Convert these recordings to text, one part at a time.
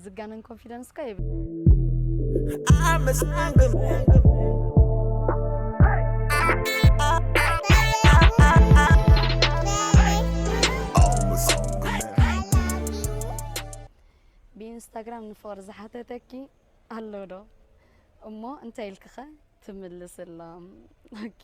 ዝጋነን ኮንፊደንስ እኳ የብለይን። ብኢንስታግራም ንፍቕሪ ዝሓተተኪ ኣሎ ዶ እሞ እንታይ ኢልኪኸ ትምልስሎም ኦኬ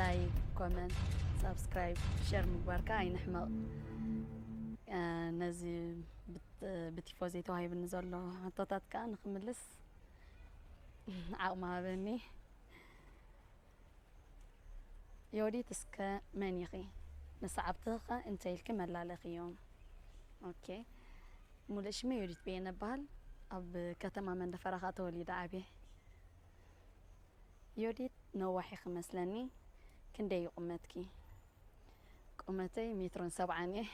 ላይክ ኮመንት ሳብስክራይብ ሸር ምግባርካ ኣይንሕመቕ ነዚ ብቲፎዜ ተዋሂብኒ ዘሎ ሕቶታት ከዓ ንክምልስ ዓቕሚ ሃበኒ ዮዲት እስከ መን ኢኺ ንሰዓብትኸ እንታይ ኢልኪ መላለኽዮም ኦኬ ሙሉእ ሽመይ ዮዲት በየነ እበሃል ኣብ ከተማ መንደፈራኻ ተወሊደ ዓብየ ዮዲት ነዋሕ ኢኺ መስለኒ ክንደይ እዩ ቁመትኪ? ቁመተይ ሜትሮን ሰብዓን እየ።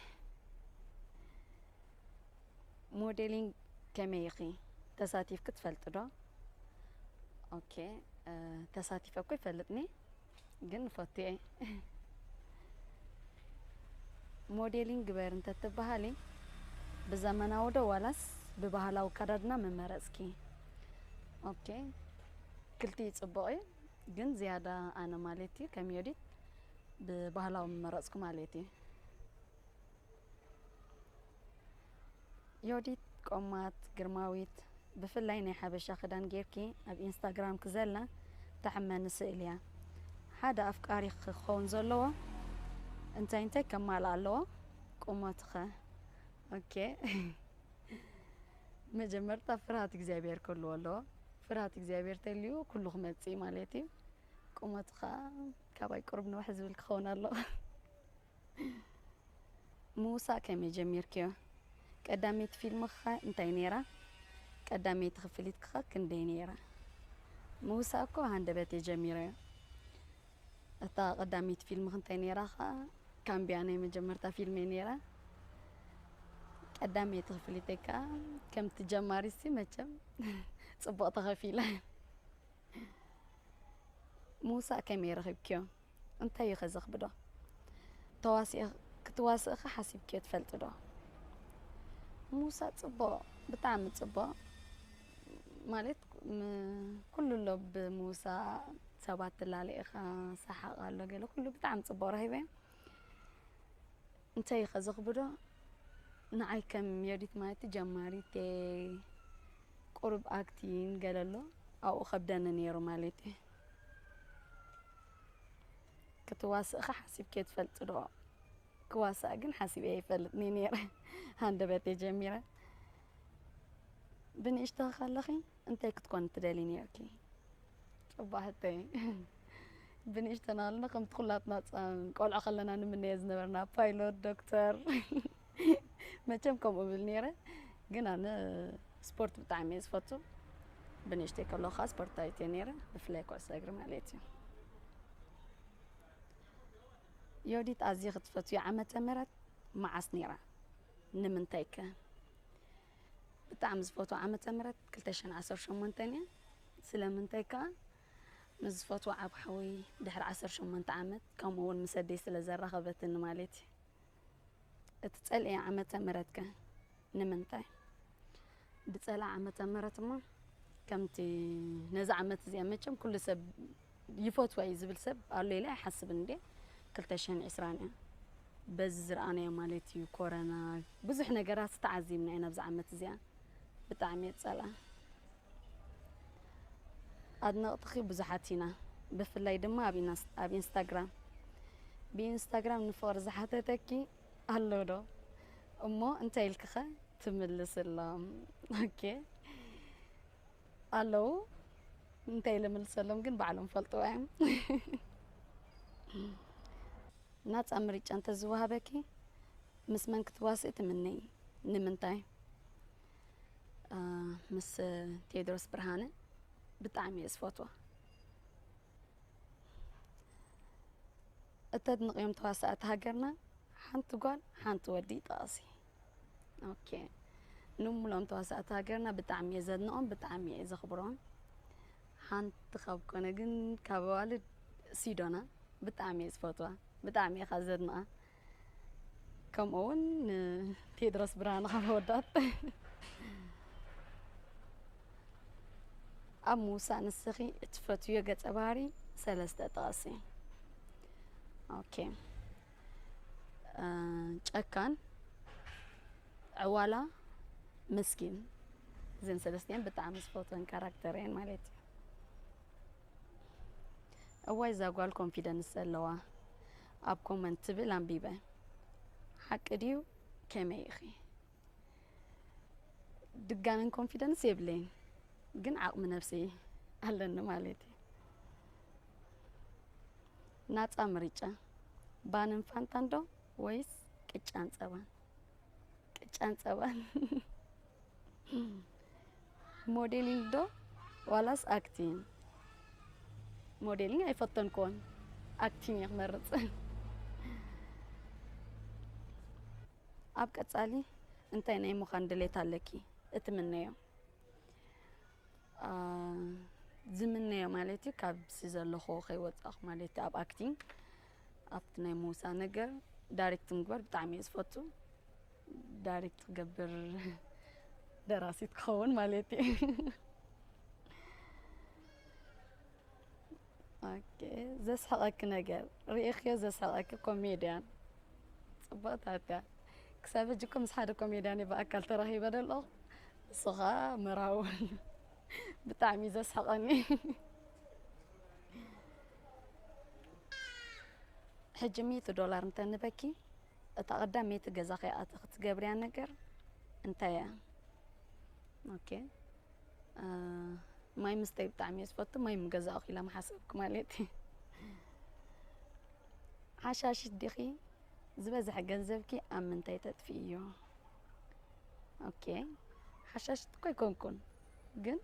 ሞዴሊንግ ከመይ ኢኺ? ተሳቲፍኪ ትፈልጢ ዶ? ኦኬ ተሳቲፈ እኮ ይፈልጥ እኔ። ግን ፈትየ ሞዴሊን ግበር እንተትበሃሊ ብዘመናዊ ዶ ዋላስ ብባህላዊ ኣከዳድና ምመረፅኪ? ኦኬ ክልቲኡ ፅቡቕ እዩ ግን ዝያዳ ኣነ ማለት እዩ ከም ዮዲት ብባህላዊ ምመረፅኩ ማለት እዩ። ዮዲት ቆማት ግርማዊት ብፍላይ ናይ ሓበሻ ክዳን ጌርኪ ኣብ ኢንስታግራምኪ ዘላ ተሕመኒ ስእሊ እያ። ሓደ ኣፍቃሪኺ ክኸውን ዘለዎ እንታይ እንታይ ከማልእ ኣለዎ? ቁመቱኸ? ኦኬ መጀመርታ ፍርሃት እግዚኣብሔር ክህልዎ ኣለዎ። ፍርሃት እግዚኣብሔር ተልዩ ኩሉ ክመጽእ ማለት እዩ። ቁመቱ ከዓ ካባይ ቁሩብ ንውሕ ዝብል ክኸውን ኣለዎ። ምውሳእ ከመይ ጀሚርክዮ? ቀዳመይቲ ፊልምኽኸ እንታይ ነይራ? ቀዳመይቲ ክፍሊትክኸ ክንደይ ነይራ? ምውሳእ እኮ ብሃንደበት እየ ጀሚረዮ። እታ ቀዳመይቲ ፊልምኺ እንታይ ነይራ ኸኣ? ካምብያ ናይ መጀመርታ ፊልመይ ነይራ። ቀዳመይቲ ክፍሊተይ ከኣ ከምቲ ጀማሪትሲ መቸም ጽቡቕ ተኸፊለ። ምውሳእ ከመይ ረኺብክዮ? እንታይ እዩ ከ ዘኽብዶ? ተዋሲእ ክትዋስእ ከ ሓሲብክዮ ትፈልጢ ዶ? ምውሳእ ጽቡቕ ብጣዕሚ ጽቡቕ ማለት ኩሉ ኣሎ ብምውሳእ ሰባት ትላለ ኢኻ ሰሓቕ ኣሎ ገለ ኩሉ ብጣዕሚ ጽቡቕ ረኺበ እንታይ እዩ ከ ዘኽብዶ ንዓይ ከም ዮዲት ማለት ጀማሪት ቁሩብ ኣክቲን ገለ ኣሎ ኣብኡ ከብደኒ ነይሩ ማለት እዩ ክትዋስእኸ ሓሲብክዮ ትፈልጢ ዶ? ክዋሳእ ግን ሓሲበ ኣይፈልጥን እየ ነይረ ሃንደበተይ ጀሚረ። ብንእሽተኺ ከለኺ እንታይ ክትኮኒ ትደሊ ነይርኪ? ፅቡቅ ሕቶይ ብንእሽተና ከለና ከምቲ ኩላትና ፃ- ቆልዑ ከለና ንምነዮ ዝነበርና ፓይሎት፣ ዶክተር፣ መቸም ከምኡ እብል ነይረ ግን ኣነ ስፖርት ብጣዕሚ እየ ዝፈቱ ብንእሽተይ ከለኹ ከዓ ስፖርታዊት እየ ነይረ ብፍላይ ኩዕሶ እግሪ ማለት እዩ ዮዲት ኣዝየ ክትፈትዩ ዓመተ ምህረት መዓስ ነይራ ንምንታይ ከ ብጣዕሚ ዝፈትዎ ዓመተ ምህረት 218 እያ ስለምንታይ ከዓ ምስ ዝፈትዎ ዓብ ሓወይ ድሕሪ 18 ዓመት ከምኡ እውን ምስ ኣደይ ስለ ዘራኸበትኒ ማለት እዩ እትጸልእያ ዓመተ ምህረት ከ ንምንታይ? ብጸላ ዓመተ ምህረት እሞ ከምቲ ነዚ ዓመት እዚኣ መቸም ኩሉ ሰብ ይፈትዋ እዩ ዝብል ሰብ ኣሎ ኢለ ኣይሓስብን እንዴ ክልተ ሽሕን ዕስራን እያ በዚ ዝረኣናዮ ማለት እዩ ኮረና ብዙሕ ነገራት ተዓዚብና ኢና ኣብዚ ዓመት እዚኣ ብጣዕሚ እየ ዝጸልኣ ኣድነቅትኺ ብዙሓት ኢና ብፍላይ ድማ ኣብ ኢንስታግራም ብኢንስታግራም ንፍቅሪ ዝሓተተኪ ኣሎ ዶ እሞ እንታይ ኢልክኸ ትምልስሎም ኦኬ ኣለዉ እንታይ ኢለ ምልሰሎም ግን ባዕሎም ፈልጥዎ እዮም ናፃ ምርጫ እንተዝወሃበኪ ምስ መን ክትዋስኢ ትምነይ ንምንታይ ምስ ቴድሮስ ብርሃነ ብጣዕሚ እየ ዝፈትዋ እተድንቕዮም ተዋሳእቲ ሃገርና ሓንቲ ጓል ሓንቲ ወዲ ጠቐሲ ኦኬ ንሙሎም ተዋሳእቲ ሃገርና ብጣዕሚ እየ ዘድንቖም ብጣዕሚ እየ ዘኽብሮም ሓንቲ ካብ ኮነ ግን ካብ ኣዋልድ ሲዶና ብጣዕሚ እየ ዝፈትዋ ብጣዕሚ እየ ካብ ዘድንቓ ከምኡ እውን ንቴድሮስ ብርሃን ካብ ወዳት ኣብ ምውሳእ ንስኺ እትፈትዮ ገፀ ባህሪ ሰለስተ ጥቐሲ። ኦኬ ጨካን፣ ዕዋላ፣ ምስኪን እዘን ሰለስቲኤን ብጣዕሚ ዝፈትወን ካራክተር እየን ማለት እዩ። እዋይ እዛ ጓል ኮንፊደንስ ዘለዋ ኣብ ኮመንት ትብል ኣንቢበ ሓቂ ድዩ ከመይ ኢኺ ድጋንን ኮንፊደንስ የብለይን ግን ዓቕሚ ነብሲ ኣለኒ ማለት እዩ ናፃ ምርጫ ባንን ፋንታን ዶ ወይስ ቅጫን ፀባን ቅጫን ፀባን ሞዴሊንግ ዶ ዋላስ ኣክቲንግ? ሞዴሊንግ ኣይፈተንክዎን ኣክቲንግ እየ ክመርፅ። ኣብ ቀፃሊ እንታይ ናይ ምዃን ድሌት ኣለኪ እትምነዮ? ዝምነዮ ማለት እዩ ካብዚ ዘለኹዎ ከይወፃእኹ ማለት እዩ ኣብ ኣክቲንግ ኣብቲ ናይ ምውፃእ ነገር ዳይሬክት ምግባር ብጣዕሚ እየ ዝፈቱ ዳይሬክት ክገብር ደራሲት ክኸውን ማለት እዩ ኦኬ ዘስሕቐኪ ነገር ርኢኽዮ ዘስሕቐኪ ኮሜድያን ፅቡቕታት እያ ክሳብ ሕጂ እኮ ምስ ሓደ ኮሜድያን ብኣካል ተራኺበ ዶ ኣለኹ ንሱ ከዓ መርሃውን ብጣዕሚ ዘስሕቐኒ ሕጂ ሚእቲ ዶላር እንተንበኪ እታ ቀዳመይቲ ገዛኺ ኣቲ ክትገብርያ ነገር እንታይ እያ? ኦኬ ማይ ምስተይ ብጣዕሚ እየ ዝፈቱ ማይ ምገዛእኹ ኢላ ምሓሰብኩ ማለት እዩ። ሓሻሽት ዲኺ ዝበዝሐ ገንዘብኪ ኣብ ምንታይ ተጥፍእዮ? ኦኬ ሓሻሽት እኮ ኣይኮንኩን ግን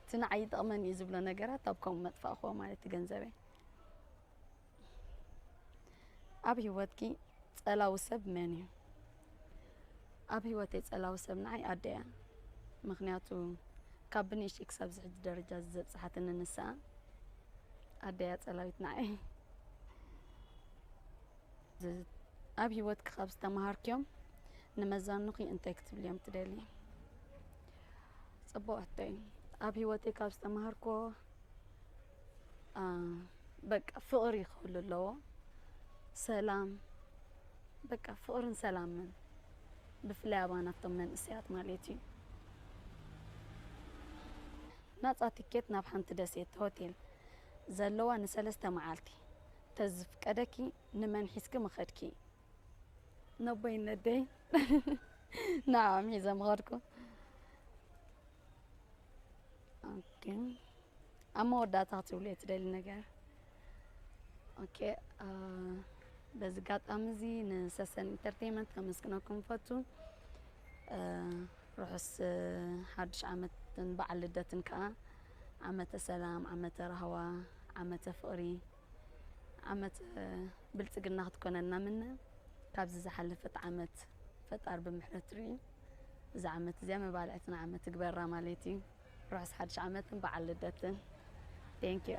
እቲ ንዓይ ይጠቕመኒ እዩ ዝብሎ ነገራት ኣብ ከምኡ መጥፋእክዎ ማለት እዩ ገንዘበይ ኣብ ሂወትኪ ጸላዊ ሰብ መን እዩ ኣብ ሂወተይ ጸላዊ ሰብ ንዓይ ኣደ እያ ምክንያቱ ካብ ብንእሽተይ ክሳብ ዝሕጂ ደረጃ ዘብጽሓትኒ ንሳ ኣደ እያ ጸላዊት ንዓይ ዝ- ኣብ ሂወትኪ ካብ ዝተምሃርክዮም ንመዛኑኺ እንታይ ክትብልዮም ትደልዪ ጽቡቃተይ ኣብ ሂወተይ ካብ ዝተማሃርክዎ በቃ ፍቅሪ ክህሉ ኣለዎ ሰላም በቃ ፍቅርን ሰላምን ብፍላይ ኣባና ኣብቶም መንእሰያት ማለት እዩ ናጻ ትኬት ናብ ሓንቲ ደሴት ሆቴል ዘለዋ ንሰለስተ መዓልቲ ተዝፍቀደኪ ንመን ሒዝኪ ምኸድኪ ነቦይ ነደይ ንዕኦም ሒዘ ምኸድኩ ኦኬ ኣብ መወዳእታ ክትብልዮ ትደሊ ነገር ኦኬ በዚ ኣጋጣሚ እዚ ንሰሰን ኢንተርቴንመንት ከመስግነኩም ፈቱ ርሑስ ሓዱሽ ዓመትን በዓል ልደትን ከዓ ዓመተ ሰላም ዓመተ ራህዋ ዓመተ ፍቕሪ ዓመተ ብልፅግና ክትኮነልና ምነ ካብዚ ዝሓለፈት ዓመት ፈጣር ብምሕረቱ ሪኡ እዛ ዓመት እዚኣ መባልዕትና ዓመት ትግበራ ማለት እዩ ርሑስ ሓድሽ ዓመትን በዓል ልደትን ቴንኪዩ